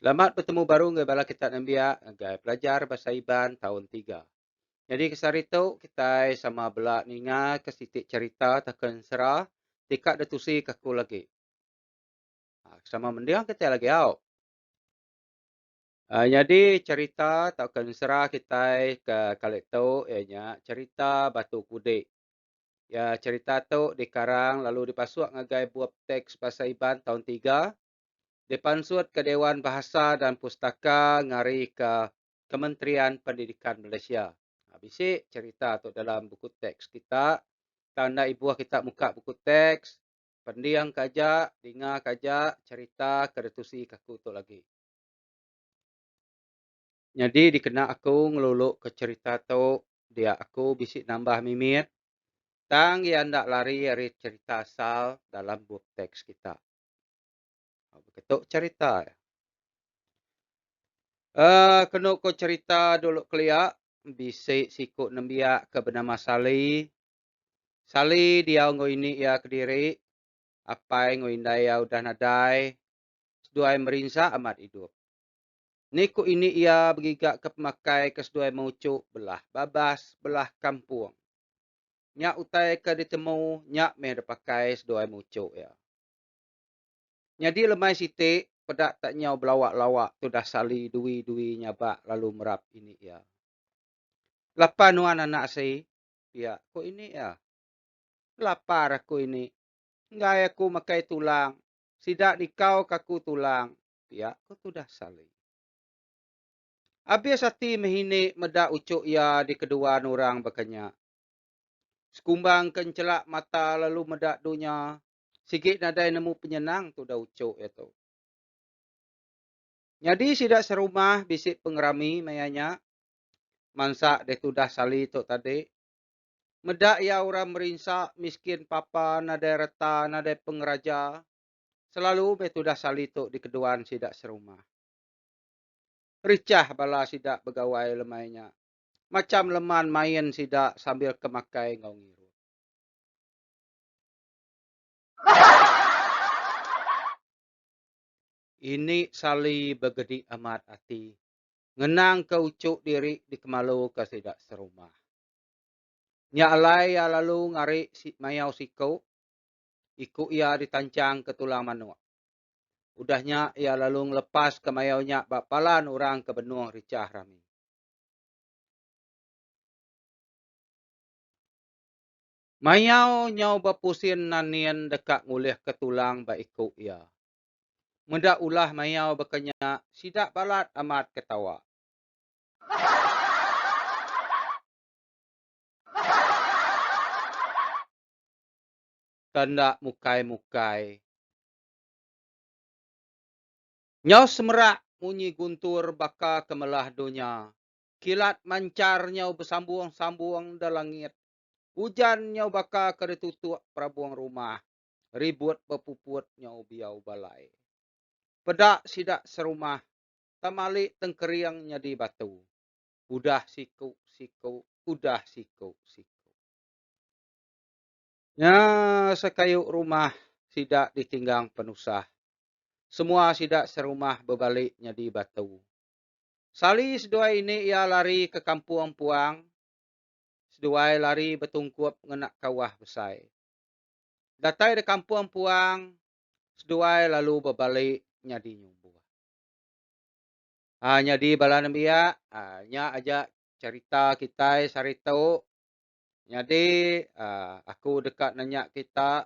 Selamat betemu baru enggau bala kita nembiak ngagai pelajar Bahasa Iban taun tiga. Nyadi kesehari tu kitai sama bela ningaka siti cherita tauka ensera ti ka ditusi ka aku lagi. Ha, sama mending kita lagi au. Uh, jadi cerita atau kensera kita ke kali tu ianya cerita batu kudik. Ya cerita tu dikarang lalu dipasuk ngagai buah teks bahasa Iban tahun 3 dipansut ke Dewan Bahasa dan Pustaka ngari ke Kementerian Pendidikan Malaysia. Ha, bisi cerita tu dalam buku teks kita. Tanda ibuh kita muka buku teks, Pending ka aja, dinga ka aja cerita ke ditusi ka aku tu lagi. Nyadi dikena aku ngelulu ka cerita tu dia aku bisi nambah mimit tang iya enda lari ari cerita asal dalam bup teks kita. Baka tu cerita iya. Uh, kenu ko cerita dulu kelia bisi siku nembiak ke benama Sali Sally diau enggau ini iya kediri, apai enggau indai iya udah nadai, seduai merinsa amat idup. Ni ku ini iya begigaka pemakai ke seduai mauchu belah babas belah kampung. Nya utai ke ditemu nya meh dipakai seduai mauchu iya. Nyadi lemai siti peda tak nyau belawa-lawa tudah Sally dui-dui nyabak lalu merap ini iya. Lapa nuan anak sii, Pia ko ini iya. Lapar aku ini. Enggai aku makai tulang. Sida nikau ka aku tulang. Pia ko tudah Sali. Abis ati meh ini meda ucuk iya di kedua nurang baka nya. Sekumbang ke enchelak mata lalu meda dunya. Sigi nadai nemu penyenang tudah ucuk iya tu. Nyadi sida serumah bisi pengerami maya nya. mansa deh tudah sali tu tadi. Meda iya orang merinsa miskin papa nadai reta nadai pengeraja selalu meh tudah sali tu dikeduan sida serumah. Richah bala sida begawai lemai nya. Macham leman main sida sambil ke makai enggau ngirup. Ini sali begedi amat ati ngenangka uchu diri dikemaluka sida serumah. Nya alai iya lalu ngari mayau siku, iku iya ditanchangka tulang manuk. Udah nya iya lalu ngelepaska mayau nya ba palan orang ke benung richah rami. Mayau nyau bepusin nanin deka ngulihka tulang ba iku iya. Meda ulah mayau baka nya, sida balat amat ketawa. Ke enda mukai-mukai. Nyau semerak munyi guntur baka ke melah dunya. Kilat manchar nyau besambung-sambung da langit. Ujan nyau baka ke ditutuk perabung rumah. ribut bepuput nyau biau balai. Peda sida serumah tamali tengkering nyadi batu. Udah siku siku udah siku siku. Nya sekayu rumah sida ditinggang penusah. Semua sida serumah bebali nyadi batu. Sali seduai ini iya lari ke kampung puang seduai lari betungkup ngena kawah besai. Datai da kampung puang seduai lalu bebali nyadi nyumbuh. Haa nyadi bala nembiak haa nya aja cherita kitai sehari tu. Nyadi haa aku deka nanya kita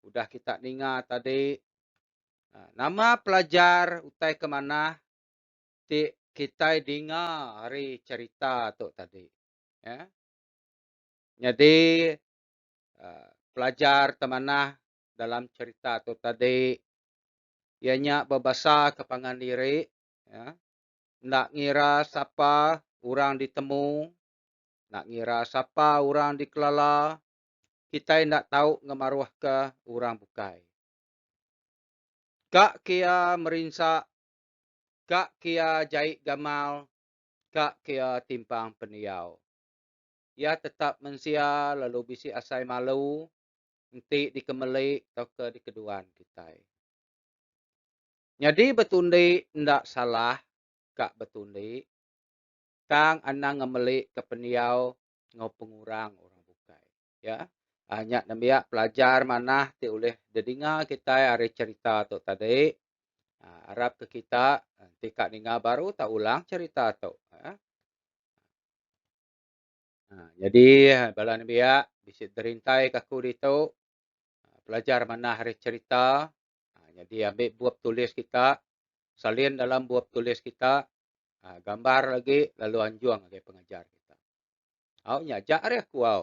udah kita ninga tadi haa nama pelajar utai ke manah ti kitai dinga ari cherita tu tadi. Haa nyadi pelajar ke manah dalam cerita tu tadi iya nya bebasaka pangan diri enda ngira sapa orang ditemu enda ngira sapa orang dikelala kitai enda tau ngemaruhka orang bukai ka kia merinsa ka kia jai gamal ka kia timpang pendiau. Iya tetap mensia lalu bisi asai malu enti dikemeli tauka dikeduan kitai. Nyadi betundi enda salah ka betundi tang anang ngemelika pendiau enggau pengurang orang bukai. Ya. Nya nembiak pelajar manah ti ulih dedinga kitai ari cherita tu tadi. Arap ke kita enti ka ninga baru tau ulang cherita tu. Nyadi bala nembiak bisi derintai ke aku ditu pelajar manah ari cherita nyadi ambi bup tulis kita salin dalam bup tulis kita gambar agi lalu anjung agi pengajar kita. Au nya aja ari aku au.